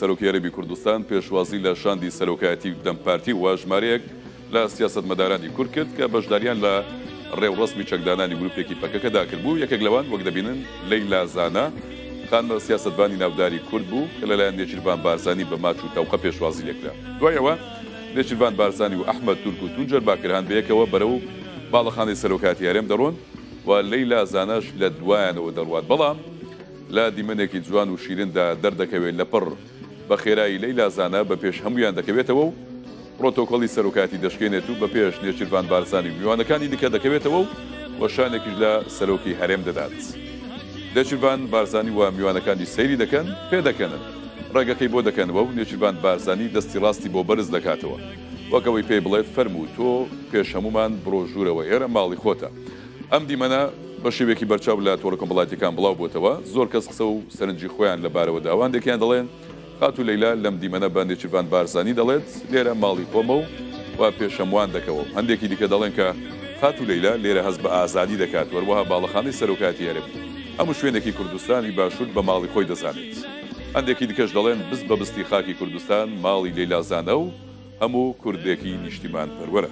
سەرۆکی عەرەبی کوردستان پێشوازی لە شاندی سەرۆکایەتی دەم پارتی و ژمارەیەک لە سیاسەتمەدارانی کورد کرد کە بەشداریان لە ڕێوڕەسمی چەکدانانی گروپێکی پەکەکەدا کردبوو یەکێک لەوان وەک دەبینن لەیلا زانا خانمە سیاستبانی ناوداری کورد بوو کە لەلایەن نێچیرڤان بارزانی بە ماچ و تەوقە پێشوازی لێکرا دوای ئەوە نێچیرڤان بارزانی و ئەحمەد تورک و تونجەر باکرهان بەیەکەوە بەرەو باڵەخانەی سەرۆکایەتی هەرێم دەڕۆن و لەیلا زاناش لە دوایانەوە دەڕوات بەڵام لە دیمەنێکی جوان و شیرندا دەردەکەوێت لەپڕ بەخێرایی لەیلا زانا بەپێش هەموویان دەکەوێتەوە و پرۆتۆکۆلی سەرۆکایەتی دەشکێنێت و بەپێش نێچیرڤان بارزانی و میوانەکانی دیکە دەکەوێتەوە و وەشانێکیش لە سەرۆکی هەرێم دەدات نێچیرڤان بارزانی و میوانەکانی سەیری دەکەن پێدەکەنن. ڕێگەکەی بۆ دەکەنەوە و نێچیرڤان بارزانی دەستی ڕاستی بۆ بەرز دەکاتەوە وەک ئەوەی پێی بڵێت فەرموو تۆ پێش هەموومان بڕۆ ژوورەوە ئێرە ماڵی خۆتە. ئەم دیمەنە بە شێوەیەکی بەرچاو لە تۆڕە کۆمەڵایەتییەکان بڵاو بۆتەوە، زۆر کەس قسە و سەرنجی خۆیان لە بارەوە داوە، هەندێکیان دەڵێن خاتوو لەیلا لەم دیمەنە بە نێچیرڤان بارزانی دەڵێت لێرە ماڵی خۆمە و وا پێش هەمووان دەکەوم، هەندێکی دیکە دەڵێن کە خاتوو لەیلا لێرە هەست بە ئازادی دەکات و هەروەها باڵەخانەی سەرۆکایەتی هەرێم. هەموو شوێنێکی کوردستانی باشوور بە ماڵی خۆی دەزانێت. هەندێکی دیکەش دەڵێن بست بە بستی خاکی کوردستان ماڵی لەیلا زانە و هەموو کوردێکی نیشتیمانپەروەرە.